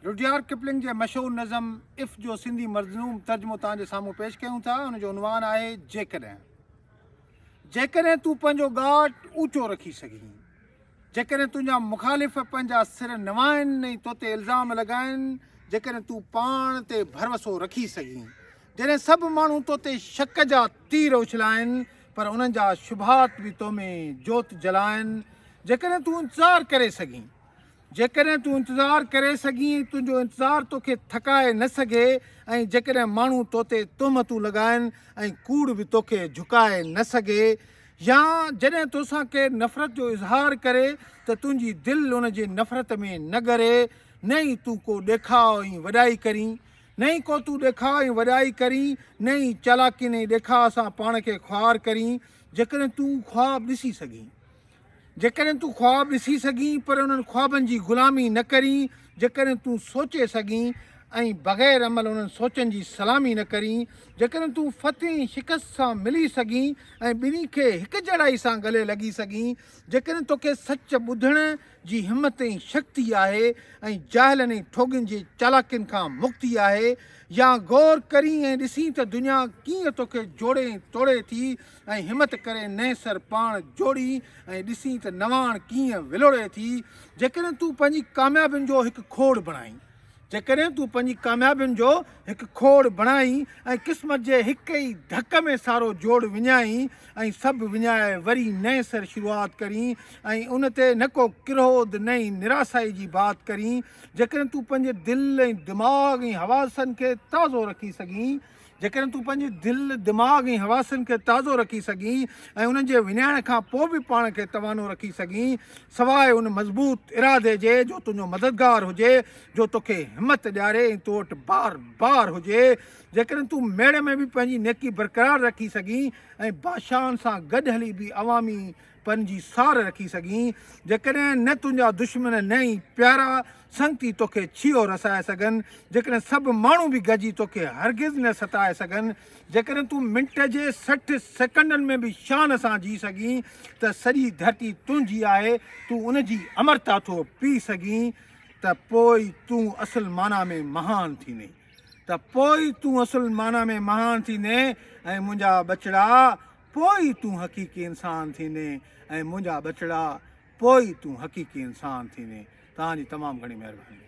Rudyard Kipling جي مشهور نظم اف جو سنڌي مظلوم ترجمو توهان جي سامهون پيش ڪيون ٿا ان جو عنوان آهي جيڪڏهن جيڪڏهن تون پنهنجو ڳاٽ اوچو رکي سگهين جيڪڏهن تنهنجا مخالف پنهنجا سر نوائن ۽ تو تي الزام لڳائن جيڪڏهن تون پاڻ تي ڀروسو رکي سگهين جڏهن سڀ ماڻهو تو تي شڪ جا تير اڇلائن پر انهن جا شبهات به تو ۾ جوت جلائن جيڪڏهن تون انتظار ڪري سگهين جيڪڏهن تون انتظار ڪري سگهين، تنهنجو انتظار توکي ٿڪائي نه سگهي ۽ جيڪڏهن ماڻهو توتي تهمتون لڳائين ۽ ڪوڙ به توکي جهڪائي نه سگهي يا جڏهن توسان ڪير نفرت جو اظهار ڪري ته تنهنجي دل ان جي نفرت ۾ نه ڳري، نه ئي تون ڪو ڏيکاء ۽ وڏائي ڪرين. نه ئي ڪو تون ڏيکاء ۽ وڏائي ڪرين، نه ئي چالاڪين ۽ ڏيکاء سان پاڻ کي خوار ڪرين، جيڪڏهن تون خواب ڏسي سگهين. جيڪڏهن تون خواب ڏسي سگهين پر انهن خوابن جي غلامي نه ڪرين، جيڪڏهن تون سوچي سگهين ۽ بغير عمل انهن سوچن جي سلامي نه ڪرين، جيڪڏهن تون فتح ۽ شڪست سان ملي سگهين ۽ ٻنهي کي هڪجهڙائي سان گلي لڳي سگهين، جيڪڏهن توکي سچ ٻڌڻ جي همت ۽ شڪتي آهي ۽ جاهلن ۽ ٺوڳين جي چالاڪين کان مڪتي آهي يا غور ڪرين ۽ ڏسين ته دنيا ڪيئن توکي جوڙي ۽ ٽوڙي ٿي، ۽ همت ڪري نئين سر پاڻ جوڙين ۽ ڏسين ته نواڻ ڪيئن ولوڙي ٿي جيڪڏهن تون پنهنجي ڪاميابين جو هڪ کوڙ بڻائين جيڪڏهن تون پنهنجي ڪاميابين جو هڪ کوڙ بڻائين ۽ قسمت جي هڪ ئي ڌڪ ۾ سارو جوڙ وڃائين ۽ سڀ وڃائي وري نئين سر شروعات ڪرين ۽ ان تي نه ڪو ڪروڌ نه ئي نراسائي جي بات ڪرين جيڪڏهن تون پنهنجي دل ۽ دماغ ۽ حواسن کي تازو رکي سگهين جيڪڏهن تون پنهنجي دل، دماغ ۽ حواسن کي تازو رکي سگهين ۽ انهن جي وڃائڻ کان پوء به پاڻ کي توانو رکي سگهين، سواء ان مضبوط ارادي جي جو تنهنجو مددگار هجي، جو توکي همت ڏياري ۽ تو وٽ بار بار هجي. جيڪڏهن تون ميڙ ۾ به پنهنجي نيڪي برقرار رکي سگهين ۽ بادشاهن سان گڏ هلي به عوامي پن جي سار رکي سگهين، جيڪڏهن نه تنهنجا دشمن نه ئي پيارا سنگتي توکي ڇيهو رسائي سگهن، جيڪڏهن سڀ ماڻهو به گڏجي توکي هرگز نه ستائي سگهن، جيڪڏهن تون منٽ جي سٺ سيڪنڊن ۾ به شان سان جي سگهين ته سڄي ڌرتي تنهنجي آهي، تون ان جي امرتا ٿو پي سگهين ته پوء ئي تون اصل معنيٰ ۾ مهان ٿيندين، ته پوء ئي تون اصل معنيٰ ۾ مهان ٿيندين ۽ منهنجا ٻچڙا! پوء ئي تون حقيقي انسان ٿيندين ۽ منهنجا ٻچڙا پوء ئي تون حقيقي انسان ٿيندين توهان جي تمام گهڻي مهرباني.